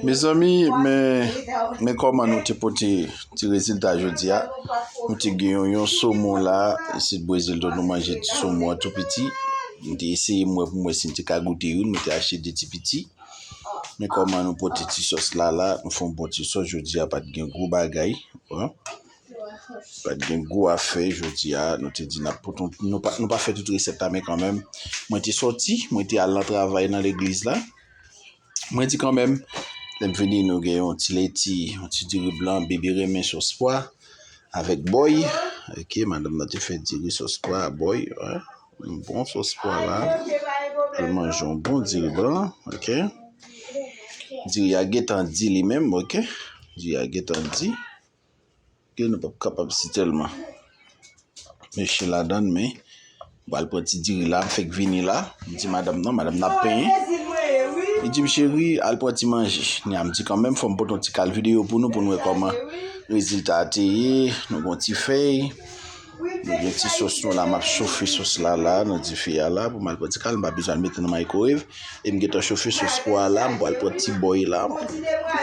Mezanmi men kòman nou te pote ti rezilta jodi a Nou te gen yon somon la isit Brezil Donk nou manje ti somon an tou piti Nou te eseye m wè pou m wè si m te ka goute youn Mwen te achte de ti piti Men kòman nou pote ti sòs la la Nou fè yon bon ti sòs jodi a pa t gen gwo bagay Pat gen gwo afè jodi a, nou te di nap pote yon ti, nou pa, nou pa fè tout resèt la men kanmenm, mwen te sòti, mwen te al nan travay nan legliz la, mwen di kanmenm, lèm vini nou gen yon ti leti, yon ti diri blan, bebe renmen sòs pwa, avèk bòy, ok, madanm nan te fè diri sòs pwa a bòy, yon bon sòs pwa la, al manje yon bon diri blan, ok, diri a gentan di li menm, ok, diri a gentan di. Ke nou pap kapab si tèlman. Mwen chen ladann men. Mwen al pran ti diri la. M fèk vini la. M di madam nan. Madam nan ap penyen. Li di m cheri al pran ti manje. Kounya m di kanmenm fò m pote yon ti kal videyo pou nou. Pou nou wè kòman rezilta a te ye. Nou gon ti fèy. Nou gen ti sos nou la. M ap chofe sos la la nan dife a la. Pou m al pran ti kal. M pa bezwen al mete nan maykowev. E m gentan chofe sos pwa a la. M pral pran ti bòy la.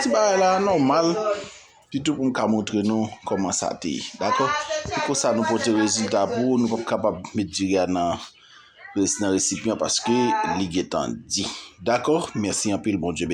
Ti bagay la nòmal. Sitou pou m ka montre nou kòman sa te ye. Dakò? Se konsa nou pote rezilta pou ou. Nou pap kapab met diri a nan resipyan paske li gentan di. Dakò? Mèsi anpil. Bondye beniw.